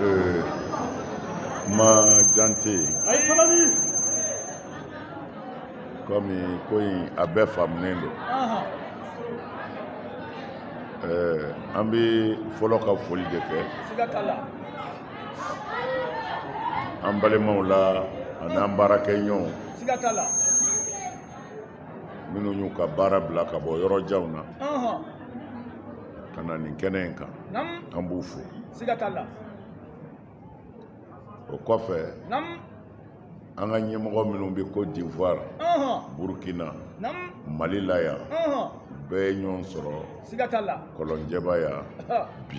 Ee, ma jan tɛ yen kɔmi ko in a bɛɛ faamunen don ɛɛ an bɛ fɔlɔ ka foli de kɛ an balimaw la an'an baarakɛɲɔgɔnw minnu y'u ka baara bila ka bɔ yɔrɔ janw na ka na nin kɛnɛ in kan an b'u fo o kɔfɛ an ka ɲɛmɔgɔ minnu bɛ côte d'ivoire burkina mali la yan bɛɛ ye ɲɔgɔn sɔrɔ kɔlɔnjɛba yan bi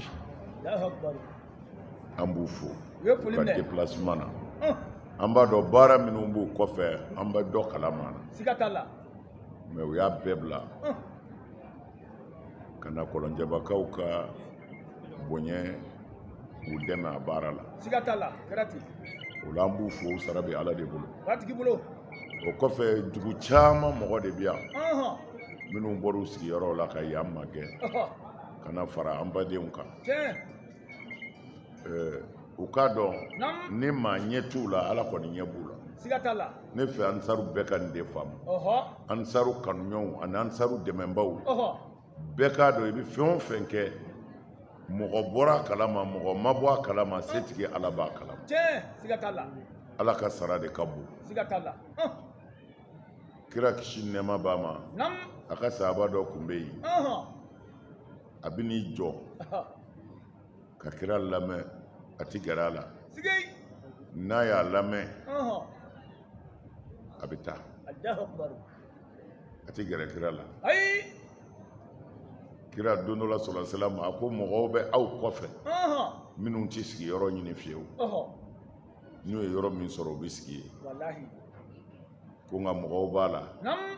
an b'u fo ka déplacement na an b'a dɔn baara minnu b'u kɔfɛ an bɛ dɔ kalama na mais u y'a bɛɛ bila ka na kɔlɔnjɛbakaw ka bonya k'u dɛmɛ a baara la o la an b'u fo sara bɛ ala de bolo o kɔfɛ dugu caman mɔgɔ de bɛ yan minnu bɔr'u sigiyɔrɔw la ka yan magɛn ka na fara an badenw kan ɛɛ u k'a dɔn ni maa ɲɛ t'u la ala kɔni ɲɛ b'u la siga t'a la ne fɛ ansaru bɛɛ ka nin de faamu ansaru kanuɲɔgɔnw ani ansaru dɛmɛbaaw bɛɛ k'a dɔn i bɛ fɛn o fɛn kɛ mɔgɔ bɔra a kalama mɔgɔ ma bɔ a kalama setigi ala b'a kalama ala ka sara de ka bon siga t'a la kira kisi nɛɛma b'a ma a ka sahaba dɔ kun bɛ yen a bɛ n'i jɔ ka kira lamɛn a tɛ gɛrɛ a la n'a y'a lamɛn a bɛ taa a tɛ gɛrɛ kira la kira don dɔ la sallallahu alaihi wasallam a ko mɔgɔw bɛ aw kɔfɛ minnu tɛ sigiyɔrɔ ɲini fiyewu n'u ye yɔrɔ min sɔrɔ u bɛ sigi yen walahi ko nka mɔgɔw b'a la naamu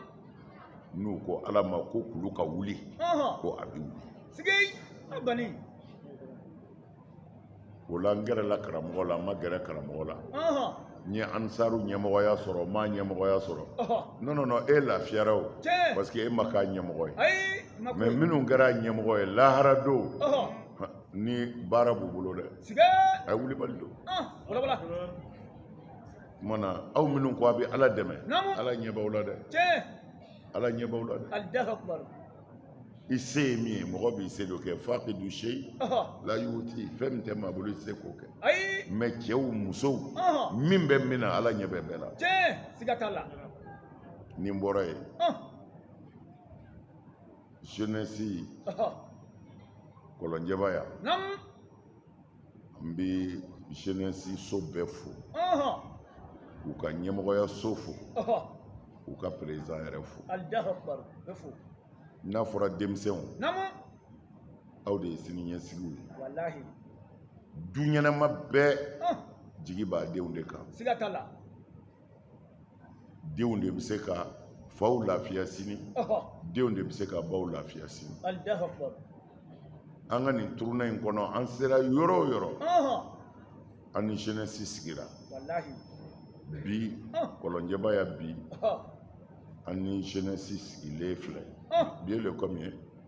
n'u ko ala ma ko kulu ka wuli ɔhɔn ko a bɛ wuli sigi a bani o la n gɛrɛla karamɔgɔ la n ma gɛrɛ karamɔgɔ la ɔhɔn n ye ansaru ɲɛmɔgɔya sɔrɔ n m'a ɲɛmɔgɔya sɔrɔ ɔhɔn non non non e lafiyara o tiɲɛ parce que e ma k'a ɲɛmɔgɔ ye ayi ma ko mais minnu kɛra ɲɛmɔgɔ ye lahara don ɔhɔn ni baara b'u bolo dɛ a ye wulibali don kumana aw minnu ko a bɛ ala dɛmɛ ala ɲɛ b'aw la dɛ ala ɲɛ b'aw la dɛ i se ye min ye mɔgɔ b'i se dɔ kɛ faqidu shayi la yuti fɛn min tɛ maa bolo i tɛ se k'o kɛ mais cɛw musow min bɛ min na ala ɲɛ bɛ bɛɛ la ni n bɔra yen jeunesse kɔlɔnjɛba yan an bɛ jeunesse so bɛɛ fo k'u ka ɲɛmɔgɔya so fo k'u ka président yɛrɛ fo n'a fɔra denmisɛnw aw de ye siniɲɛsigiw ye du ɲɛnama bɛɛ jigi b'a denw de kan denw de bɛ se ka faw lafiya sini denw de bɛ se ka baw lafiya sini an ka nin tournée in kɔnɔ an sera yɔrɔ o yɔrɔ an ni jeunesse sigira bi kɔlɔnjɛba yan bi an ni jeunesse sigilen filɛ bi ye le combien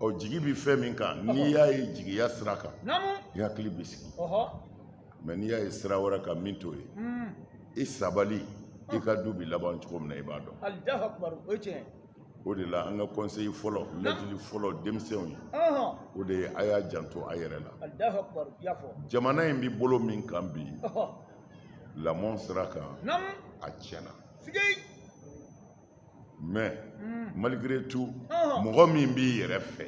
ɔ jigi bɛ fɛn min kan n'i y'a ye jigiya sira kan i hakili bɛ sigi mais n'i y'a ye sira wɛrɛ kan min t'o ye hmm. i sabali i ka du bɛ laban cogo min na i b'a dɔn o de la an ka conseil fɔlɔ lajili fɔlɔ denmisɛnw ye o de ye a y'a janto a yɛrɛ la jamana in bɛ bolo min kan bi lamɔ sira kan a tiɲɛna mais malgré tout mɔgɔ min b'i yɛrɛ fɛ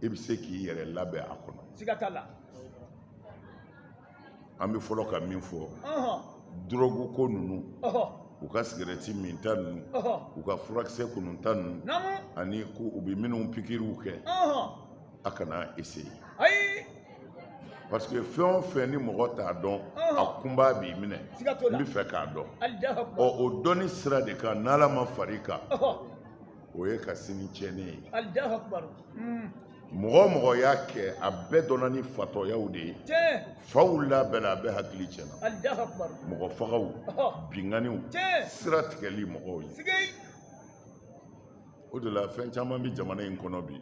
i bɛ se k'i yɛrɛ labɛn a kɔnɔ an bɛ fɔlɔ ka min fɔ dɔrɔgu ko ninnu u ka sigarɛti minta ninnu u ka furakisɛ kununta ninnu ani ko u bɛ minnu pikiriw kɛ a kana essayer ayi parce que fɛn o fɛn ni mɔgɔ t'a dɔn a kunpa b'i minɛ siga t'o la n b'a fɛ k'a dɔn allahu ɔ akbar o dɔnni sira de kan n'ala ma far'i kan ɔhɔ o y'i ka sini tiɲɛnen ye allahu akbar Hmm. mɔgɔ o mɔgɔ y'a kɛ a bɛɛ dɔnna ni fatɔyaw de ye tiɲɛ faw labɛnna a bɛɛ hakili tiɲɛna allahu akbar mɔgɔ fagaw ɔhɔ binkanniw tiɲɛ sira tigɛli mɔgɔw ye sigei o de la fɛn caman bɛ jamana in kɔnɔ bi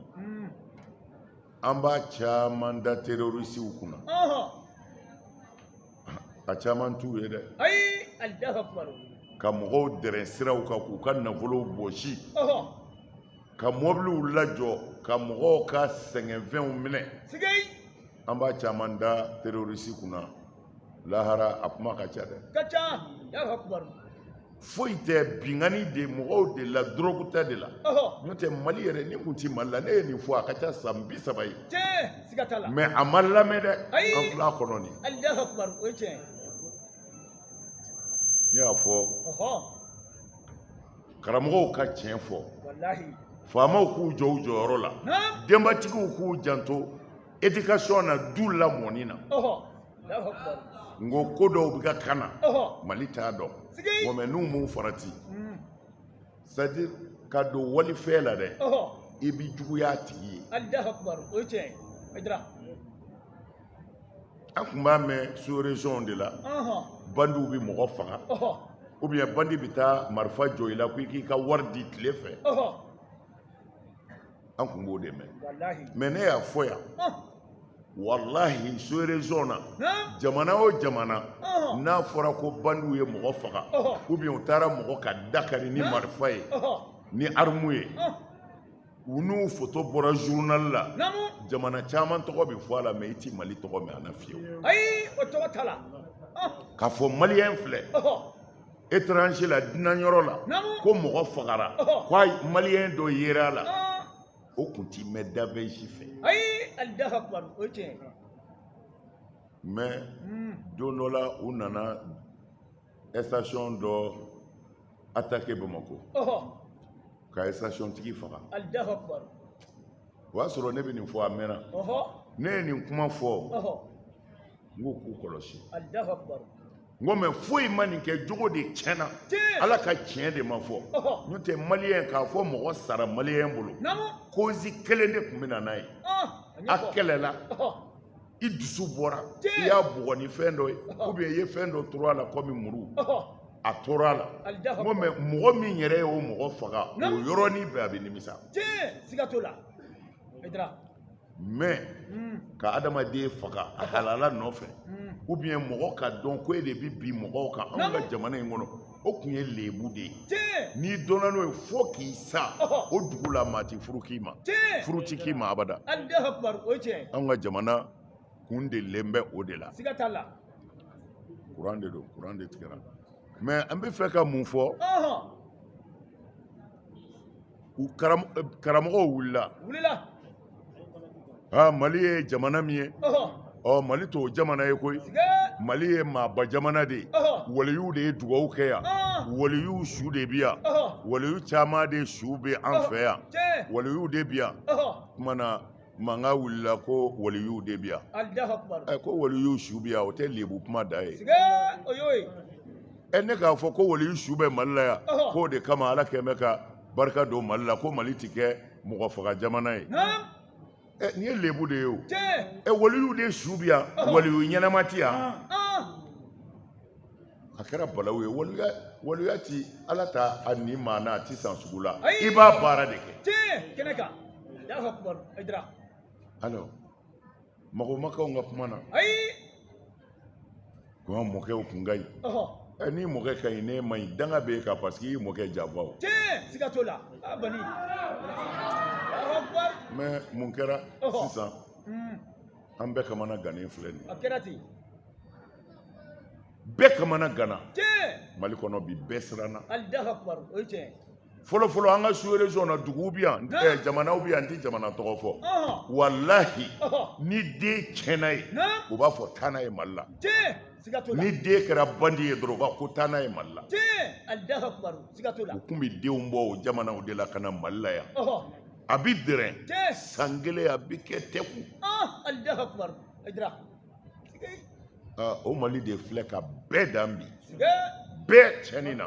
an b'a caman da terorisiw kunna a caman t'u ye dɛ ka mɔgɔw dɛrɛ siraw kan k'u ka nafolow bɔsi ka mɔbiliw lajɔ ka mɔgɔw ka sɛgɛnfɛnw minɛ an b'a caman da terorisi kunna lahara a kuma ka ca dɛ ka ca allahu akbar foyi tɛ binkanni de mɔgɔw de la dɔrɔgu ta de la n'o tɛ mali yɛrɛ nin kun ti mali la ne ye nin fɔ a ka ca san bi saba ye mais a ma lamɛn dɛ an filɛ a kɔnɔ nin ne y'a fɔ karamɔgɔw ka tiɲɛ fɔ faamaw k'u jɔ u jɔyɔrɔ la denbatigiw k'u janto éducation na du lamɔni na n ko ko dɔw bɛ ka kan na mali t'a dɔn bon mais n'u m'u farati hmm. c'est à dire ka don walifɛn la dɛ i bɛ juguya a tigi ye an tun b'a mɛn sous région de la bandiw bɛ mɔgɔ faga ou bien bandi bɛ taa marifa jɔ i la ko i k'i ka wari di tile fɛ an tun b'o de mɛn mais ne y'a fɔ yan wallahi sous région na jamana o jamana n'a fɔra ko bandiw ye mɔgɔ faga ou bien u taara mɔgɔ ka da kari ni marifa ye ni arme ye u n'u photo bɔra journal la jamana caman tɔgɔ bɛ fɔ a la mais i tɛ mali tɔgɔ mɛn a na fiyewu k'a fɔ maliyɛn filɛ étranger la dunan yɔrɔ la ko mɔgɔ fagara ko ayi maliyɛn dɔ yera a la o kun ti mɛn dabɛnsi fɛ ayi alahu akbar o tiɲɛ mais don dɔ la u nana station dɔ attaqué bamakɔ ka station tigi faga alahu akbar o y'a sɔrɔ ne bɛ nin fɔ a mɛnna ne ye nin kuma fɔ n k'u k'u kɔlɔsi alahu akbar n ko mais foyi ma nin kɛ jogo de tiɲɛna ala ka tiɲɛ de ma fɔ n'o tɛ maliyɛn k'a fɔ mɔgɔ sara maliyɛn bolo cause kelen de tun bɛ na n'a ye a kɛlɛla i dusu bɔra i y'a bugɔ ni fɛn dɔ ye ou bien i ye fɛn dɔ turu a la comme muru a tora a la n ko mais mɔgɔ min yɛrɛ y'o mɔgɔ faga o yɔrɔnin bɛɛ a bɛ nimisa mais hmm. ka adamaden faga a halala nɔfɛ hmm. ou bien mɔgɔ k'a dɔn ko e de bi bin mɔgɔw kan anw ka jamana in kɔnɔ o tun ye lebu de ye n'i dɔnna n'o ye fo k'i sa o dugu la maa ti furu k'i ma furu ti k'i ma abada anw ka jamana kun delilen bɛ o de la kuran de don kuran de tigɛra mais an bɛ fɛ ka mun fɔ u karamɔgɔw wulila aa mali ye jamana min ye ɔ mali t'o jamana ye koyi mali ye maaba jamana de ye waliyuw de ye dugawu kɛ yan waliyuw su de bi yan waliyuw caman de su bɛ an fɛ yan waliyuw de bi yan kuma na Mankan wulila ko waliyuw de bɛ yan, Alahu akbar, ɛ ko waliyuw su bɛ yan o tɛ lebu kuma da ye, sikee, o y'o ye, ɛ ne k'a fɔ ko waliyu su bɛ Mali la yan, Ɔhɔ. k'o de kama Ala kɛn bɛ ka barika don Mali la ko Mali tɛ kɛ mɔgɔ faga jamana ye, naam, ɛ nin ye lebu de ye o, tiɲɛ, ɛ waliyuw de su bɛ yan, Ɔhɔ. waliyu ɲɛnama tɛ yan, an, a kɛra balawu ye waliya waliya ti ala ta a ni maa n'a ti san sugu la Ayi. i b'a baara de kɛ tiɲɛ kɛnɛ kan y'a fɔ kuma ayidara alors mago makaw ka kuma na ayi ko an mɔkɛw kun ka ɲi ɔhɔ ɛ ni mɔkɛ ka ɲi n'e man ɲi danga b'e kan parce que i ye mɔkɛ janfa o tiɲɛ siga t'o la a bani y'a fɔ kuma mais mun kɛra Ɔhɔ. sisan an bɛɛ kamana gannen filɛ nin ye a kɛra ten bɛɛ kamana ganna mali kɔnɔ bi bɛɛ siranna fɔlɔfɔlɔ an ka sous région na duguw bi yan eh, jamanaw bi yan n tɛ jamana tɔgɔ fɔ walahi ni den tiɲɛna ye u b'a fɔ taa n'a ye mali la ni den kɛra bandi ye dɔrɔn u b'a ko taa n'a ye mali la u kun bɛ denw bɔ o jamanaw de la ka na mali la yan a bɛ dɛrɛn san kelen a bɛ kɛ tɛku o mali de filɛ ka bɛɛ dan bi bɛɛ cɛni na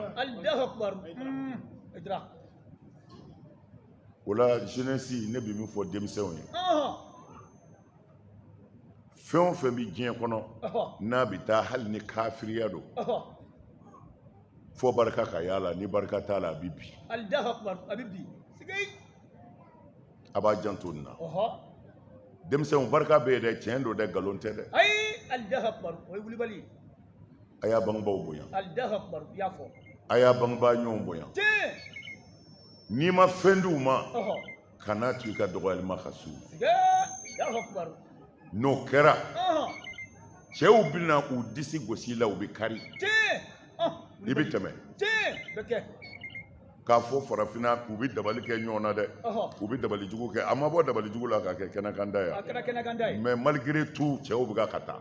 o la jeunesse ne bɛ min fɔ denmisɛnw ye fɛn o fɛn bɛ diɲɛ kɔnɔ n'a bɛ taa hali ni kafiriya don fo barika ka y'a la ni barika t'a la a bɛ bin a bɛ bin a b'a janto nin na denmisɛnw barika bɛ yen dɛ tiɲɛ don dɛ nkalon tɛ dɛ a y'a bangebaaw bonya a y'a bangebaa ɲɔgɔn bonya n'i ma fɛn di u ma kana to i ka dɔgɔyali ma ka s'u ma n'o kɛra cɛw bɛna u disi gosi i la u bɛ kari i bɛ tɛmɛ k'a fɔ farafinna u bɛ dabali kɛ ɲɔgɔn na dɛ u bɛ dabali jugu kɛ a ma bɔ dabali jugu la ka kɛ kɛnɛkanda ye mais malgré tout cɛw bɛ ka taa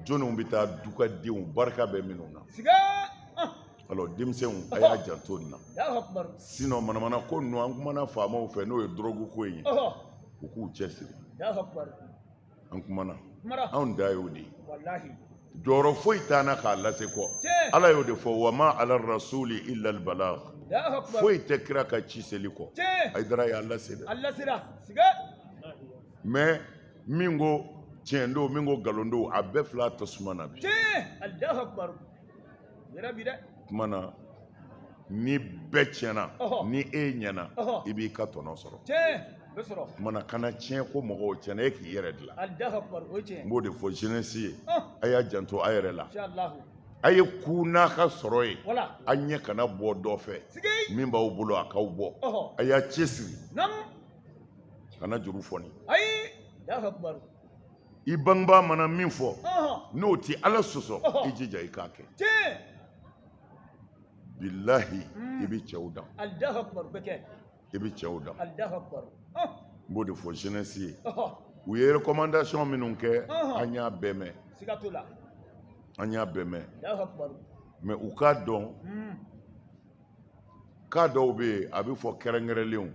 jɔnniw bɛ taa dugadenw barika bɛ minnu na alors denmisɛnw a y'a janto nin na sinon manamana ko ninnu an kumana faamaw fɛ n'o ye drogue ko ye u k'u cɛsiri an kumana anw dan y'o de ye jɔyɔrɔ foyi t'an na k'a lase kɔ ala y'o de fɔ wa ma ala rasuli illa al balagh foyi tɛ kira kan ci seli kɔ ayidara y'a lase dɛ mais min ko tiɲɛ don min ko nkalon don a bɛɛ filɛ tasuma na bi kuma na ni bɛɛ tiɲɛna ni e ɲɛna i b'i ka tɔnɔ sɔrɔ kuma na kana tiɲɛ ko mɔgɔw tiɲɛna e k'i yɛrɛ dilan n b'o de fɔ jeunesse ye a y'a janto a yɛrɛ la a ye ku n'a ka sɔrɔ ye a ɲɛ kana bɔ dɔ fɛ min b'aw bolo a k'aw bɔ a y'a cɛsiri kana juru fɔni i bangebaa mana min fɔ n'o tɛ ala sɔsɔ i jija i k'a kɛ bilahi i bɛ cɛw dan i bɛ cɛw dan n b'o de fɔ jeunesse ye u ye recommandation minnu kɛ an y'a bɛɛ mɛn an y'a bɛɛ mɛn mais u k'a dɔn cas dɔw bɛ yen a bɛ fɔ kɛrɛnkɛrɛnlenw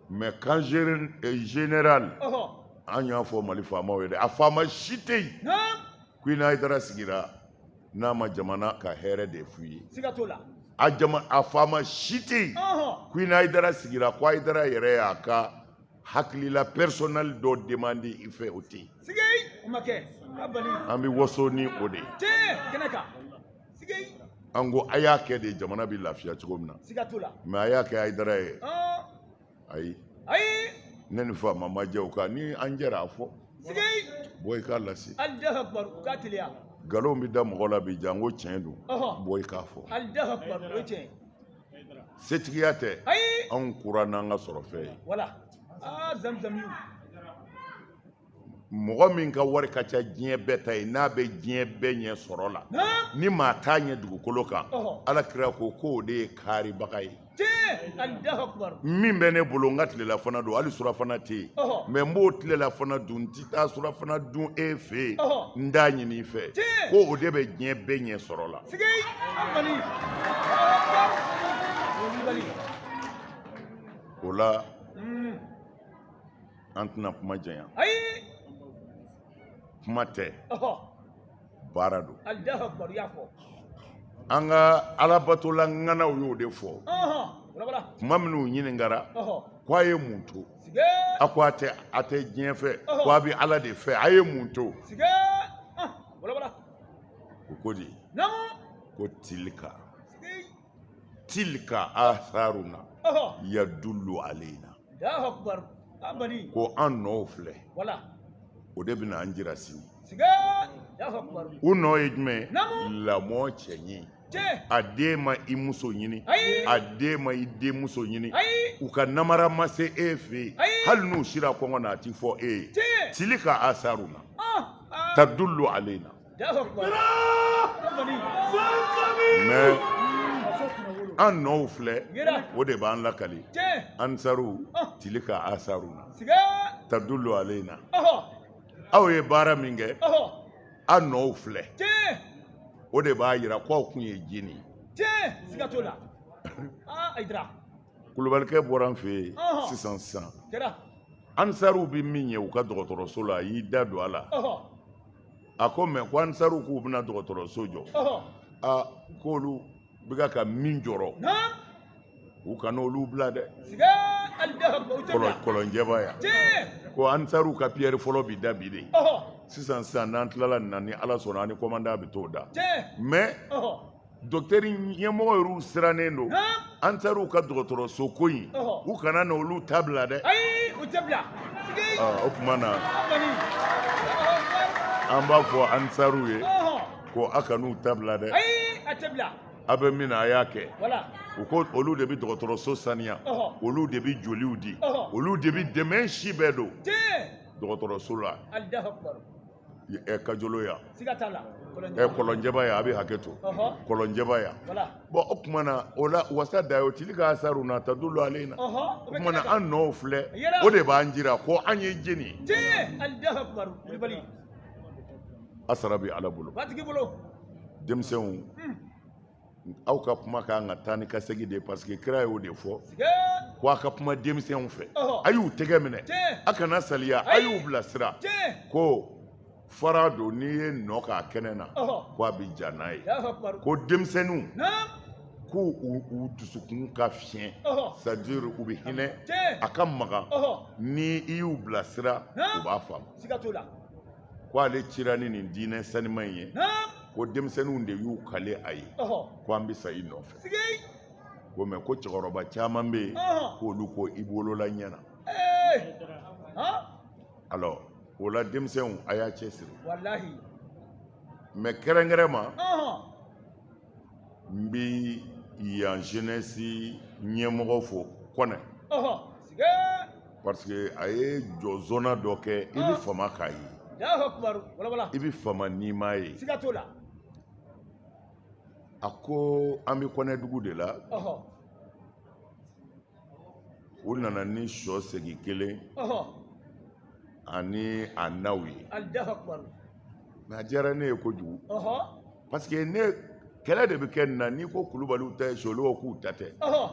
mais cas général an y'a fɔ mali faamaw ye dɛ a faama si tɛ yen ko i ni hayidara sigira n'a ma jamana ka hɛrɛ de f'u ye a a faama si tɛ yen ko i ni hayidara sigira ko hayidara yɛrɛ y'a ka hakilila personnel dɔ demandé i fɛ o tɛ yen an bɛ waso ni o de ye an ko a y'a kɛ de jamana bɛ lafiya cogo min na mais a y'a kɛ hayidara ye ayi ayi ne ni faama ma jɛ o kan ni an jɛra a fɔ bɔ i k'a lase nkalon bɛ da mɔgɔ la bi janko tiɲɛ don bɔ i k'a fɔ setigiya tɛ anw kura n'an ka sɔrɔ fɛn ye mɔgɔ min ka wari ka ca diɲɛ bɛɛ ta ye n'a bɛ diɲɛ bɛɛ ɲɛ sɔrɔ la ni maa t'a ɲɛ dugukolo kan ala kira ko k'o de ye kaaribaga ye min bɛ ne bolo n ka tilelafana don hali surafana tɛ yen mais n b'o tilelafana dun n tɛ taa surafana dun e fɛ yen n t'a ɲini i fɛ ko o de bɛ diɲɛ bɛɛ ɲɛ sɔrɔ la o la an tɛna kuma janya ayi kuma tɛ ɔhɔ baara don allahu akubaru y'a fɔ an ka alabatola ŋanaw y'o de fɔ ɔhɔ walawala kuma min u ɲininkara ɔhɔ ko a ye mun to sige a ko a tɛ a tɛ diɲɛ fɛ ko a bɛ ala de fɛ a ye mun to sige ah walawala o ko de naamu ko tilka tilka atharuna yadullu alaina ko an nɔw filɛ o de bɛna an jira sini u nɔ ye jumɛn lamɔ cɛ ɲi a den ma i muso ɲini a den ma i denmuso ɲini u ka namara ma se e fɛ yen hali n'u sira kɔngɔ na a ti fɔ e ye tilka atharuna ah, ah. tadullu alaina mais an nɔw filɛ o de b'an lakali ansaru tilka asaruna tadullu alayna aw ye baara min kɛ an nɔw filɛ o de b'a yira k'aw kun ye jini kulubalikɛ bɔra an fɛ yen sisan sisan ansaru bɛ min ye u ka dɔgɔtɔrɔso la a y'i da don a la a ko mais ko ansaruw k'u bɛna dɔgɔtɔrɔso jɔ a k'olu bɛ ka min jɔrɔ u kana olu bila dɛ kɔlɔnjɛba yan ko ansaruw ka piyɛri fɔlɔ bi da bi de sisan sisan n'an tilala nin na ni ala sɔnna an ni kɔmandan bɛ t'o da mais Docteur ɲɛmɔgɔ yɛrɛw sirannen don ansaruw ka dɔgɔtɔrɔso ko in u kana na olu ta bila dɛ o tuma na an b'a fɔ ansaruw ye ko aw kan'u ta bila dɛ aw bɛ min na a y'a kɛ u ko olu de bɛ dɔgɔtɔrɔso saniya olu de bɛ joliw di olu de bɛ dɛmɛ si bɛɛ don dɔgɔtɔrɔso la ɛ kajolo yan siga t'a la ɛ kɔlɔnjɛba yan a bɛ hakɛ to Ɔhɔ. kɔlɔnjɛba yan voilà bon o tuma na o la wasa dayo tilka asaruna tadullu alayna Ɔhɔ, o o bɛ tuma na kɛnɛ kan. an nɔw filɛ Yɛrɛ. o de b'an jira ko an ye jɛni ye tiɲɛ Allahu Akbar kulubali a sara bɛ ala bolo batigi bolo denmisɛnw aw ka kuma ka kan ka taa ni ka segin de ye parce que kira y'o de fɔ ko a ka kuma denmisɛnw fɛ a y'u tɛgɛ minɛ a kana saliya a y'u bilasira ko fara don n'i ye nɔ k'a kɛnɛ na ko a bɛ ja n'a ye ko denmisɛnninw ko u dusukun ka fiɲɛ c'est-à-dire u bɛ hinɛ a ka magan ni i y'u bilasira u b'a faamu ko ale cira ni nin diinɛ saniman in ye ko denmisɛnninw de y'u kale a ye ko an bɛ sa i nɔfɛ ko mais ko cɛkɔrɔba caman bɛ yen k'olu ko i wolola ɲɛ na alors o la denmisɛnw a y'a cɛsiri mais kɛrɛnkɛrɛn ma n bɛ yan jeunesse ɲɛmɔgɔ fo kɔnɛ parce que a ye jɔzɔnna dɔ kɛ i bɛ fama k'a ye i bɛ fama n'i m'a ye a ko an bɛ kɔnɛdugu de la u nana ni sɔ segi kelen ani a naw ye mais a diyara ne ye kojugu parce que ne kɛlɛ de bɛ kɛ nin na n'i ko kulubaliw ta ye sɔ olu k'u ta tɛ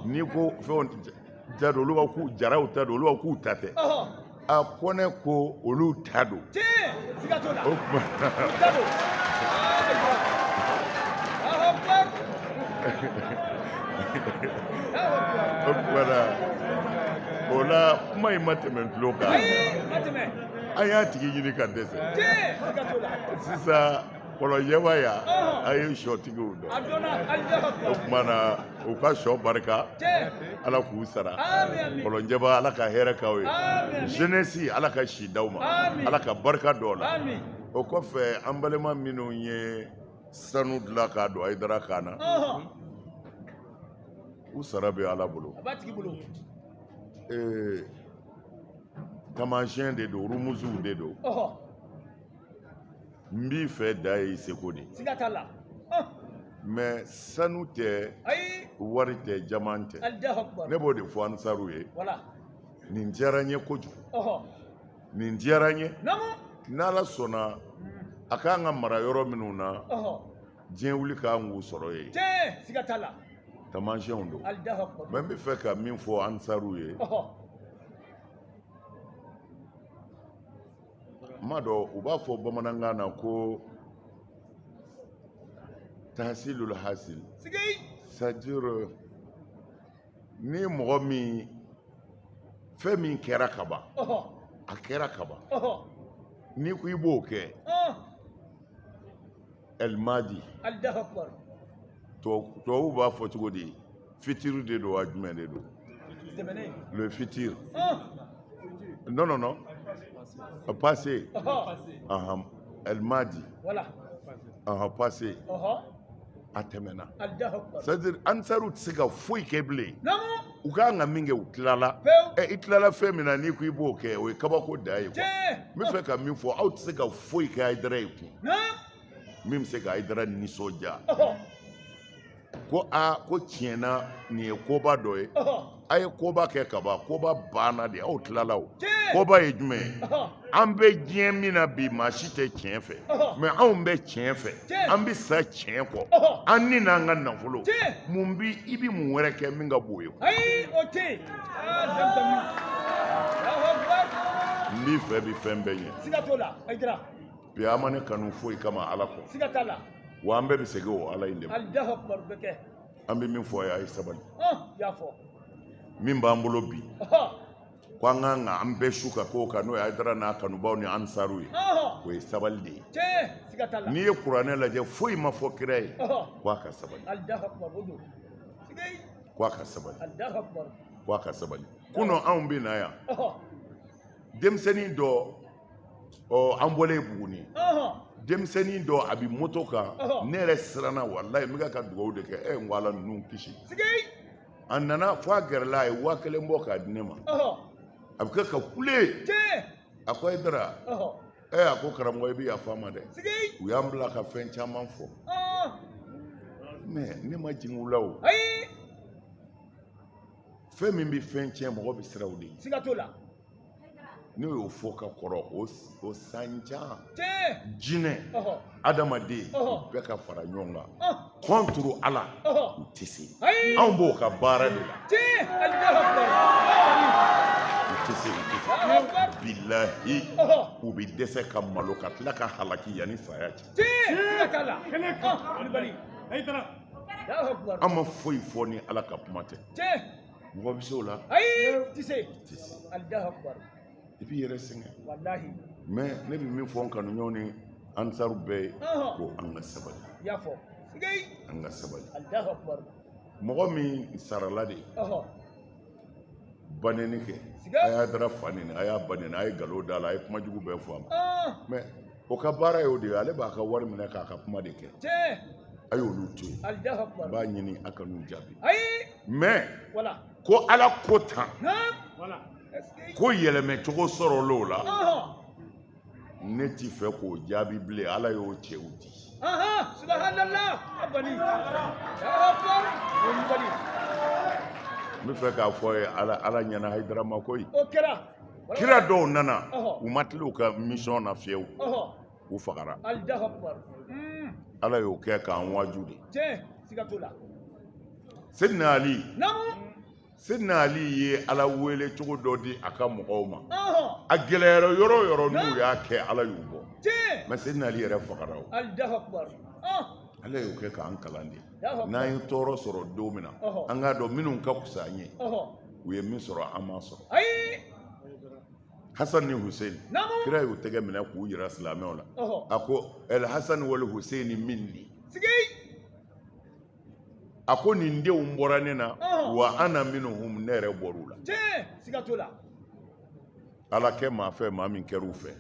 n'i ko fɛnw ta don olu ko jaraw ta don olu k'u ta tɛ a kɔnɛ ko olu ta don o kuma o kuma na o la kuma in ma tɛmɛ tulo kan an y'a tigi ɲini ka dɛsɛ sisan kɔlɔnjɛba ya a ye sɔtigiw dɔn o tuma na u ka sɔ barika ala k'u sara kɔlɔnjɛba ala ka hɛrɛ k'aw ye jeunesse ala ka si d'aw ma ala ka barika d'aw la o kɔfɛ an balima minnu ye sanu dilan k'a don ayidara kan na u sara bɛ ala bolo taamasiyɛn de don rumuzuw de don n b'i fɛ dan ye seko de siga t'a la mɛ sanu tɛ wari tɛ jaman tɛ ne b'o de fɔ ansaru ye nin diyara n ye kojugu nin diyara n ye n'ala sɔnna a k'an ka mara yɔrɔ minnu na diɲɛ wuli k'an k'u sɔrɔ yen taamasiyɛnw don mɛ n bɛ fɛ ka min fɔ ansaru ye ma dɔn u b'a fɔ bamanankan na ko tahasilul hasil c'est à dire ni mɔgɔ min fɛn min kɛra ka ban a kɛra ka ban n'i ko i b'o kɛ alimadi tubabu b'a fɔ cogo di futur de don wa jumɛn de don le futur non non non passé ahan alimadi ahan passé a tɛmɛna c'est à dire ansaru tɛ se ka foyi kɛ bilen u ka kan ka min kɛ u tilala ɛ i tilala fɛn min na n'i ko i b'o kɛ o ye kabako dan ye n bɛ fɛ ka min fɔ aw tɛ se ka foyi kɛ ayidara ye kun min bɛ se ka ayidara nisɔndiya ko aa ko tiɲɛna nin ye koba dɔ ye a ye koba kɛ ka ban koba banna de aw tilala o koba ye jumɛn ye an bɛ diɲɛ min na bi maa si tɛ tiɲɛ fɛ mɛ anw bɛ tiɲɛ fɛ an bɛ sa tiɲɛ kɔ an ni n'an ka nafolo mun bi i bɛ mun wɛrɛ kɛ min ka bon ye n b'i fɛ bi fɛn bɛɛ ɲɛ bi a ma ne kanu foyi kama ala kɔ wa an bɛɛ bɛ segin o ala in de ma an bɛ min fɔ a ye a ye sabali min b'an bolo bi ko an kan ka an bɛɛ su ka k'o kan n'o ye Ayidara n'a kanubaw ni ansaru ye o ye sabali de ye n'i ye kuranɛ lajɛ foyi ma fɔ kira ye ko a ka sabali ko a ka sabali ko a ka sabali kunun anw bɛ na yan denmisɛnnin dɔ ɔ an bɔlen Buguni denmisɛnnin dɔ a bɛ moto kan ne yɛrɛ siranna walayi n bɛ ka dugawu de kɛ ɛ n ko Ala ninnu kisi. a nana fɔ a gɛrɛla a ye waa kelen bɔ k'a di ne ma ɔhɔ a bɛ kɛ ka kule tiɲɛ a ko ayidara ɔhɔ ɛ a ko karamɔgɔ i bɛ yafa n ma dɛ sigi u y'an bila ka fɛn caman fɔ ɔɔ mɛ ne ma jigin u la o ayi fɛn min bɛ fɛn tiɲɛ mɔgɔ bɛ siran o de ɲɛ siga t'o la ne y'o fɔ ka kɔrɔ o sanjan jinɛ adamaden bɛɛ ka fara ɲɔgɔn kan kɔntoro ala u tɛ se anw b'o ka baara de la u tɛ se u tɛ se bilahi u bɛ dɛsɛ ka malo ka tila ka halaki yanni saya cɛ an ma foyi fɔ ni ala ka kuma tɛ mɔgɔ bɛ se o la ayi tɛ se tɛ se alahu akubaru i b'i yɛrɛ sɛgɛn walahi mɛ ne bɛ min fɔ n kanuɲɔgɔn ni ansaru bɛɛ ye Ɔhɔn. ko an ka sabali i y'a fɔ sigei an ka sabali alahu akubaru mɔgɔ min sarala de ɔhɔ banɛni kɛ Siga. a y'ayidara fa nɛni a y'a ba nɛni a ye nkalon d'a la a ye kuma jugu bɛɛ fɔ a ma ɔn mɛ o ka baara y'o de ye ale b'a ka wari minɛ k'a ka kuma de kɛ a y'olu to yen n b'a ɲini a kan'u jaabi mɛ ko ala ko tan ko yɛlɛmɛ cogo sɔrɔl'o la ne tɛ fɛ k'o jaabi bilen ala y'o cɛw di n bɛ fɛ k'a fɔ ye ala ɲɛna hayidara ma koyi kira dɔw nana u ma tila u ka misiyɔn na fiyewu u fagara hmm. ala y'o kɛ k'an waju de sedina ali sedina ali ye ala wele cogo dɔ di a ka mɔgɔw ma a gɛlɛyara yɔrɔ o yɔrɔ n'u y'a kɛ ala y'u bɔ mɛ sedina ali yɛrɛ fagara o ala y'o kɛ k'an kalan de n'an ye tɔɔrɔ sɔrɔ don min na an k'a dɔn minnu ka fisa an ye u ye min sɔrɔ an m'a sɔrɔ hasan ni hussein kira y'u tɛgɛ minɛ k'u jira silamɛw la a ko el hasan wal hussein minni a ko nin denw bɔra ne na wa ana minhum ne yɛrɛ bɔr'u la ala kɛ maa fɛ maa min kɛra u fɛ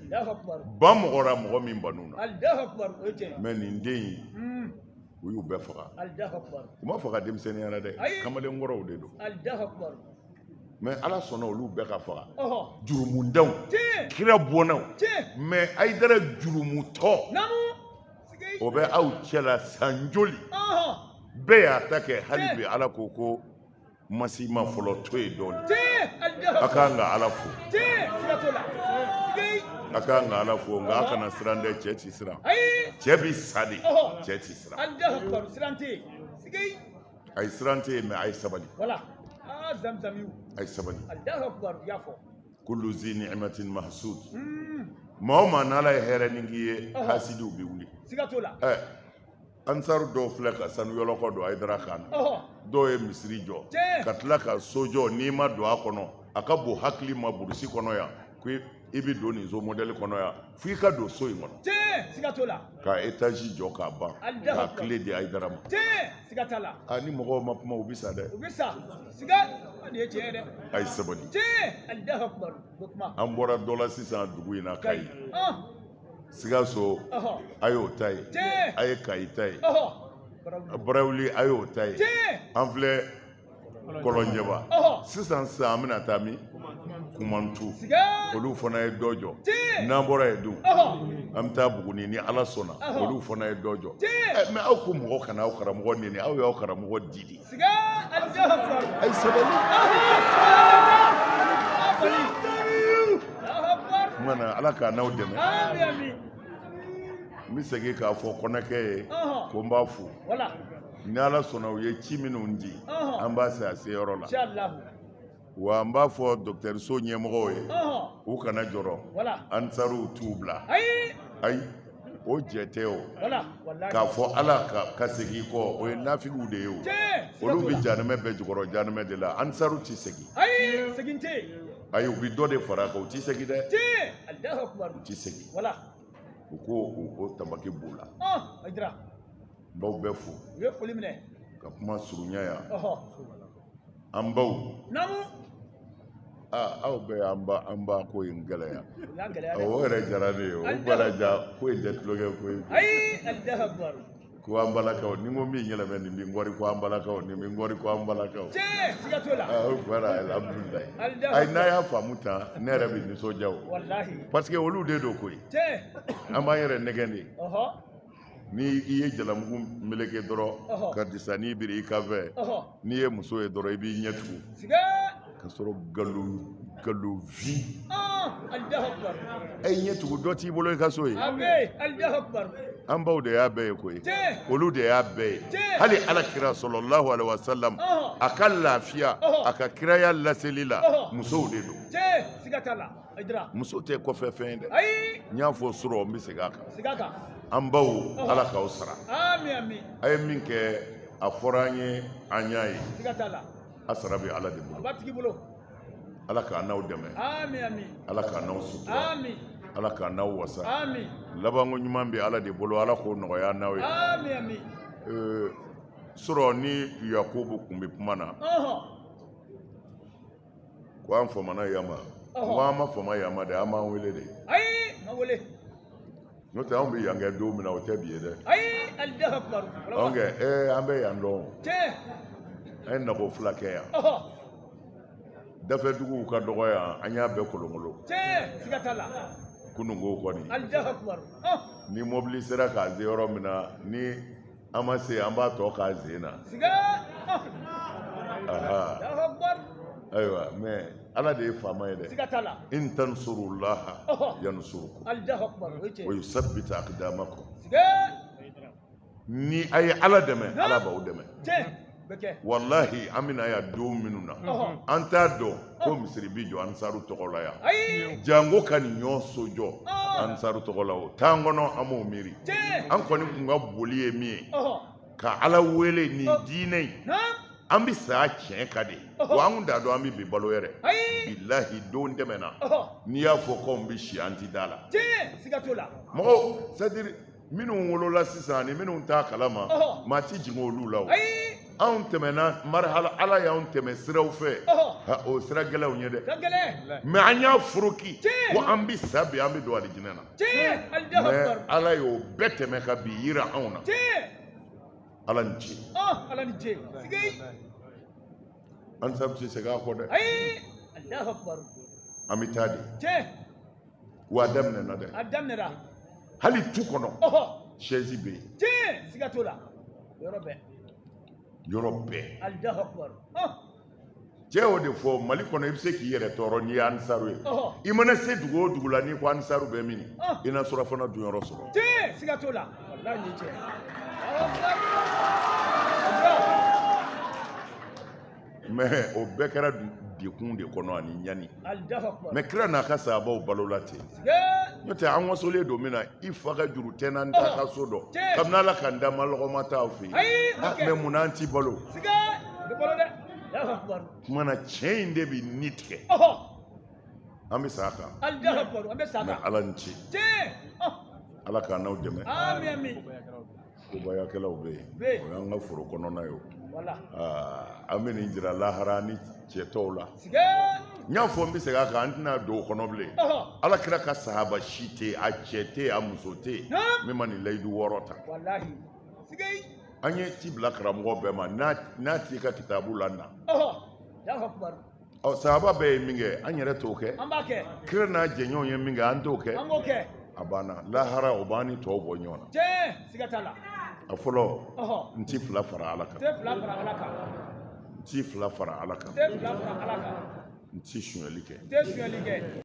ban mɔgɔ ra mɔgɔ min ban u na mɛ nin den in hmm. u y'u bɛɛ faga u ma faga denmisɛnninya la dɛ kamalen kɔrɔw de don mɛ ala sɔnna olu bɛɛ ka faga jurumudenw kira bɔnnaw mɛ ayidara jurumutɔ o bɛ aw cɛla san joli bɛɛ y'a ta kɛ hali bi ala ko ko ma s'i ma fɔlɔ to yen dɔɔni a ka kan ka ala fo a ka kan ka ala fo nka a kana siran dɛ cɛ ti siran cɛ bi sa de cɛ ti siran a ye siran tɛ yen mɛ a ye sabali a ye sabali kulu zi ni'matin mahsud maa o maa n'ala ye hɛrɛ nin k'i ye hasidiw bɛ wuli ansaru dɔw filɛ ka sanu yɔlɔkɔ don ayidara kan na dɔw ye misiri jɔ ka tila ka so jɔ n'i ma don a kɔnɔ a ka bon hakili ma burusi kɔnɔ yan ko i bɛ don nin so mɔdɛli kɔnɔ yan fo i ka don so in kɔnɔ ka etazi jɔ k'a ban k'a kile di ayidara ma a ni mɔgɔw ma kuma u bɛ sa dɛ a ye sabali an bɔra dɔ la sisan dugu in na kayi Sikaso a y'o ta ye a ye kayi ta ye barawuli a y'o ta ye an filɛ kɔlɔnjɛba sisan sisan an bɛna taa min kumantu olu fana ye dɔ jɔ n'an bɔra yen dun an bɛ taa buguni ni ala sɔnna olu fana ye dɔ jɔ mɛ aw ko mɔgɔ kana aw karamɔgɔ neni aw y'aw karamɔgɔ di de A ye sabali. Kumana ala k'an n'aw dɛmɛ. N bɛ segin k'a fɔ Kɔnakɛ ye ko n b'a fo. Ni ala sɔnna u ye ci minnu di an b'a se a se yɔrɔ la. wa n b'a fɔ dɔgɔtɔrɔso ɲɛmɔgɔw ye u kana jɔrɔ ansaruw t'u bila ayi o jɛ tɛ o k'a fɔ ala ka segin kɔ o ye nafigiw de ye o olu bɛ janɛmɛ bɛɛ jukɔrɔ janɛmɛ de la ansaruw tɛ segin ayi u bɛ dɔ de fara a kan u tɛ segin dɛ u tɛ segin u ko o tamaki b'u la n b'aw bɛɛ fo ka kuma surunya yan an baw namu aa aw bɛɛ y'an ba an ba ko in gɛlɛya u y'a gɛlɛya dɛ o yɛrɛ diyara ne ye o An ba ladiya ko in tɛ tulonkɛ ko ye ayi alahu akibaru ko an balakaw ni n ko min yɛlɛmɛ nin bi n kɔri ko an balakaw nin bi n kɔri ko an balakaw tiɲɛ siga t'o la aa o kɛra alihamudulilayi Alihamudulila. ayi n'a y'a faamu tan ne yɛrɛ bɛ nisɔndiya o walahi parce que olu de don koyi tiɲɛ an b'an yɛrɛ nɛgɛn de ɔhɔ ni i ye jalamugu meleke dɔrɔn ka disani biri i kan fɛ n'i ye muso ye dɔrɔn i b'i ɲɛ tugu ka sɔrɔ galo galo vi e ɲɛ tugu dɔ t'i bolo i ka so ye an baw de y'a bɛɛ ye koyi olu de y'a bɛɛ ye hali ala kira salalahu alaihi wasallam a ka lafiya a ka kiraya laseli la musow de don muso tɛ kɔfɛ fɛn ye dɛ n y'a fɔ surɔ n bɛ segin a kan an baw ala k'aw sara a ye min kɛ a fɔra an ye an y'a ye a sara bɛ ala de bolo ala k'an n'aw dɛmɛ ala k'an n'aw sutura ala k'an n'aw wasa labanko ɲuman bɛ ala de bolo ala k'o nɔgɔya n'aw ye surɔ ni yakubu kun bɛ kuma na ko an famana yan ma ko an ma fama yan ma dɛ a m'an wele de ayi ma wele n'o tɛ anw bɛ yan kɛ don min na o tɛ bi ye dɛ ayi alahu akubar anw kɛ ee an bɛ yan dɔn tiɲɛ an ye nako fila kɛ yan dafɛ duguw ka dɔgɔ yan an y'a bɛɛ kolonkolon tiɲɛ siga t'a la kununko kɔni alahu akubar ni mɔbili sera k'an se yɔrɔ min na ni an ma se an b'a tɔ k'an sen na ayiwa mɛ ala de ye faama ye dɛ in tansurullaha yansurukum wa yusabbit aqdamakum ni a ye ala dɛmɛ ala b'aw dɛmɛ walahi an bɛ na yan don minnu na an t'a dɔn ko misiri bi jɔ ansaru tɔgɔ la yan janko ka nin ɲɔgɔn so jɔ ansaru tɔgɔ la o t'an kɔnɔ an m'o miiri an kɔni kun ka boli ye min ye ka ala wele nin diinɛ in an bɛ sa tiɲɛ kan de wa an kun t'a dɔn an bɛ bi balo yɛrɛ bilahi don tɛmɛna n'i y'a fɔ k'an bɛ si an ti da la mɔgɔw c'est à dire minnu wolola sisan ani minnu t'a kalama maa ti jigin olu la o anw tɛmɛna marihala ala y'anw tɛmɛ siraw fɛ o sira gɛlɛnw ye dɛ mɛ an y'a foroki ko an bɛ sa bi an bɛ don alijinɛ na mɛ ala y'o bɛɛ tɛmɛ ka bi yira anw na ala ni ce ansaru tɛ segin a kɔ dɛ an bɛ taa de wa a daminɛna dɛ a daminɛna hali tu kɔnɔ siège bɛ yen tiɲɛ siga t'o la yɔrɔ bɛɛ yɔrɔ bɛɛ alahu akubar cɛ y'o de fɔ mali kɔnɔ i bɛ se k'i yɛrɛ tɔɔrɔ n'i ye ansaru ye i mana se dugu o dugu la n'i ko ansaru bɛ min i na surafana dunyɔrɔ sɔrɔ tiɲɛ siga t'o la walayi ni cɛ mɛ o bɛɛ kɛra degun de kɔnɔ ani ɲani mɛ kira n'a ka sahabaw balola ten n'o tɛ an wasolen don min na i fa ka juru tɛ n na n t'a ka so dɔn kabini ala ka n da n ma lɔgɔma t'aw fɛ yen mɛ mun n'an t'i balo kuma na tiɲɛ in de bɛ ni tigɛ an bɛ sa a kan mɛ ala ni ce ala k'an n'aw dɛmɛ ko bayakɛlaw bɛ yen o y'an ka foro kɔnɔna ye o an bɛ nin jira lahara ni cɛ tɔw la n y'a fɔ n bɛ segin a kan an tɛna don o kɔnɔ bilen ala kira ka sahaba si tɛ a cɛ tɛ a muso tɛ min ma nin layidu wɔɔrɔ ta an ye ci bila karamɔgɔ bɛɛ ma n'a t'i ka kitabu la na ɔ sahaba bɛɛ ye min kɛ an yɛrɛ t'o kɛ an b'a kɛ kira n'a jɛɲɔgɔnw ye min kɛ an t'o kɛ an b'o kɛ a banna lahara o b'an ni tɔw bɔ ɲɔgɔn na tiɲɛ siga t'a la a fɔlɔ ɔhɔ n ti fila fara ala kan tɛ fila fara ala kan n ti fila fara ala kan tɛ fila fara ala kan n ti sonyali kɛ tɛ sonyali kɛ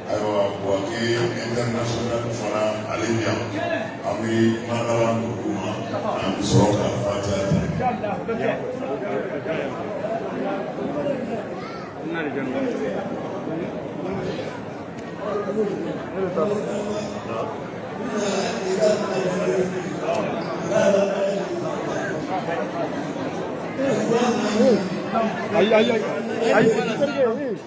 ayiwa buwake international fana ale bɛ yan an bɛ kumakala dugu ma an bɛ sɔrɔ ka fatiya ta.